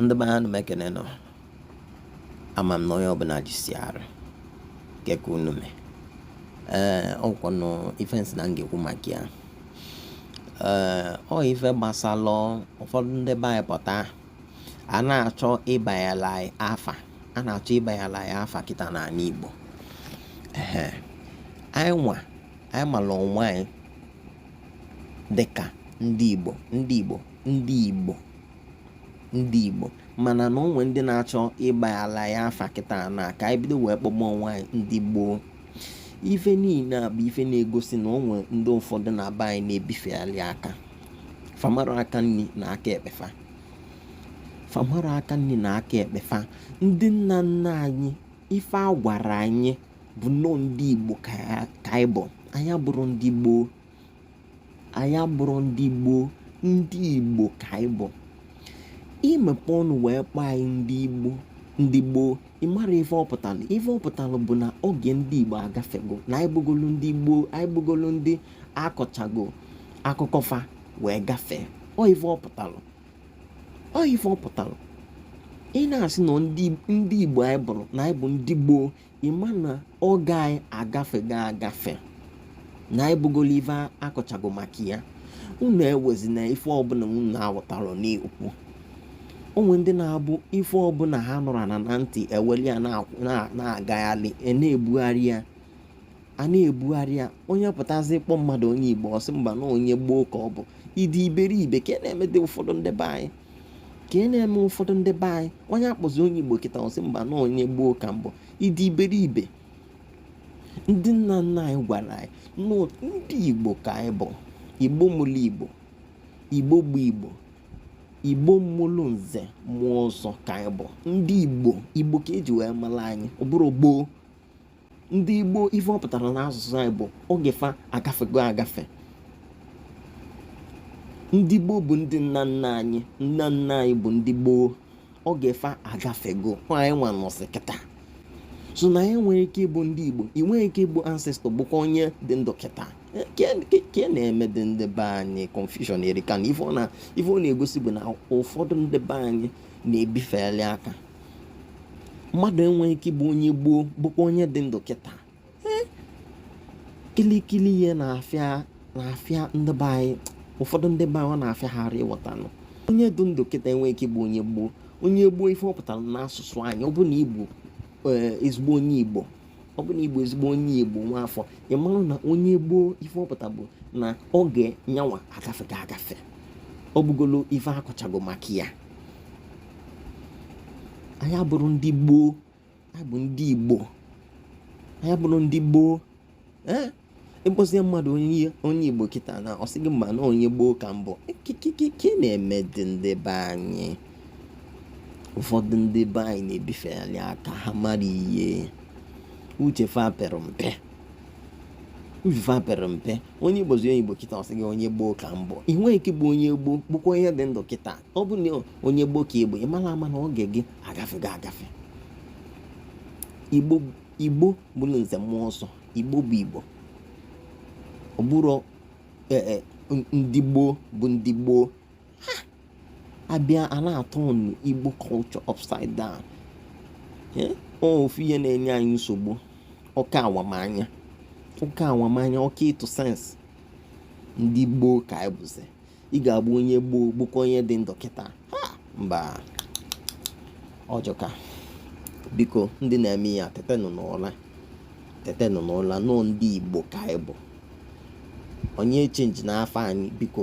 ndị be anyị m ekene nụ o ama m na onye ọbụla jisi arụ ike ke unu me ee ọ kwanụ ife m sị na m ga-ekwu maka ya ee ọ ife gbasalụ ụfọdụ ndị be anyị pụta a na-achọ ịbayalị anyị afa a na-achọ ịbayalị anyị afa kịta n'ala Igbo ee anyị nwa anyị mara onwe anyị dịka ndị Igbo ndị Igbo ndị Igbo ndị Igbo mana na o nwe ndị na-achọ ịbayalị anyị afa kịta na ka anyị bido wee kpọba onwe anyị ndị gboo ife niile a bụ ife na-egosi na onwe ndị ụfọdụ na be anyị na-ebifeali aka famara aka nri na aka ekpe fa fa amarọ aka nri na aka ekpe fa ndị nna nna anyị ife a gwara anyị bụ nnọọ ndị igbo ka anyị bụ anyị abụrọ ndị gboo anyị abụrọ ndị gboo ndị igbo ka anyị bụ i mepe ọnụ wee kpọọ anyị ndị igbo ndị gboo ị mara ife ọ pụtalụ ife ọ pụtalụ bụ na oge ndị igbo agafego na anyị bụgolu ndị gboo anyị bụgolu ndị a kọchago akụkọ fa wee gafee ọ ife ọ pụtalụ ọ ife ọ pụtalụ ị na-asị na ndị igbo anyị bụrụ na anyị bụ ndị gboo ị ma na oge anyị agafego agafe na anyị bụgolu ife a kọchago maka ya unu ewezina ife ọbụla unu na-awọtarọ n'ikwu o nwe ndị na-abụ ife ọbụla ha nụrụ anụ na ntị eweli ya na-agagharị a na-ebugharị ya a na-ebugharị ya onye pụtazi kpọ mmadụ onye igbo ọ sị mba na onye gboo ka ọ bụ ị dị iberibe kee na-emedị ụfọdụ ndị be anyị kee na-eme ụfọdụ ndị be anyị onye a kpọzi onye igbo kịta ọ sị mba na onye gboo ka m bụ ị dị iberibe ndị nna nna anyị gwara anyị na ndị igbo ka anyị bụ igbo mụlụ igbo igbo bụ igbo igbo mụlụ nze mụọ ọzọ ka anyị bụ ndị igbo igbo ka e ji wee mara anyị ọ bụrọ gboo ndị gboo ife ọ pụtara n'asụsụ anyị bụ oge fa agafego agafe ndị gboo bụ ndị nna nna anyị nna nna anyị bụ ndị gboo oge fa agafego anyị nwa nọsị kịta so na anyị nwere ike ịbụ ndị igbo ị nwere ike ịbụ ancestor bụkwa onye dị ndụ kịta kee na-emedị ndị be anyị confusion erika na ife ọ na-egosi bụ na ụfọdụ ndị be anyị na-ebifeli aka mmadụ enweghị ike ịbụ onye gboo bụkwa onye dị ndụ kịta kilikili ihe na-afịa na-afịa ndị be anyị ụfọdụ ndị be anyị ọ na-afịa ha arụ ịghọta na onye dị ndụ kịta enweghị ike ịbụ onye gboo onye gboo ife ọ pụtara n'asụsụ anyị ọ bụ na ị bụ eh, ezigbo onye igbo ọ bụ na ị bụ ezigbo onye igbo nwa afọ ị mara na onye gboo ife ọ pụta bụ na oge nya nwa agafego agafe ọ bụgolo ife a kọchago maka ya anyị abụrọ ndị gboo anyị bụ ndị igbo anyị abụrọ ndị gboo ee ị kpọzie mmadụ onye igbo kịta na ọ sị gị mba na onye gboo ka m bụ kikikiki na-emedị ndị be anyị ụfọdụ ndị be anyị na-ebifegharị aka ha mara ihe uche fa pere mpe uche fa pere mpe onye ị kpọzi onye igbo kịta ọ sị gị onye gboo ka m bụ ị nweghị ike ịbụ onye gboo bụkwa onye dị ndụ kịta ọ bụ na onye gboo ka ị bụ ị mara ama na oge gị agafego agafe igbo igbo mụrụ nze mụọ ọzọ igbo bụ igbo ọ bụrọ e, e, ndị gboo bụ ndị gboo a bịa a na-aturn igbo culture upside down ofu ihe na-enye anyị nsogbu oke awamanya oke awamanya oke ịtụ sense ndị gboo ka anyị bụzi ị ga-abụ onye gboo bụkwa onye dị ndụ kịta mba ọ jọka biko ndị na-eme ya tetenụ n'ụla tetenụ n'ụla na ọ ndị igbo ka anyị bụ onye changena afa anyị biko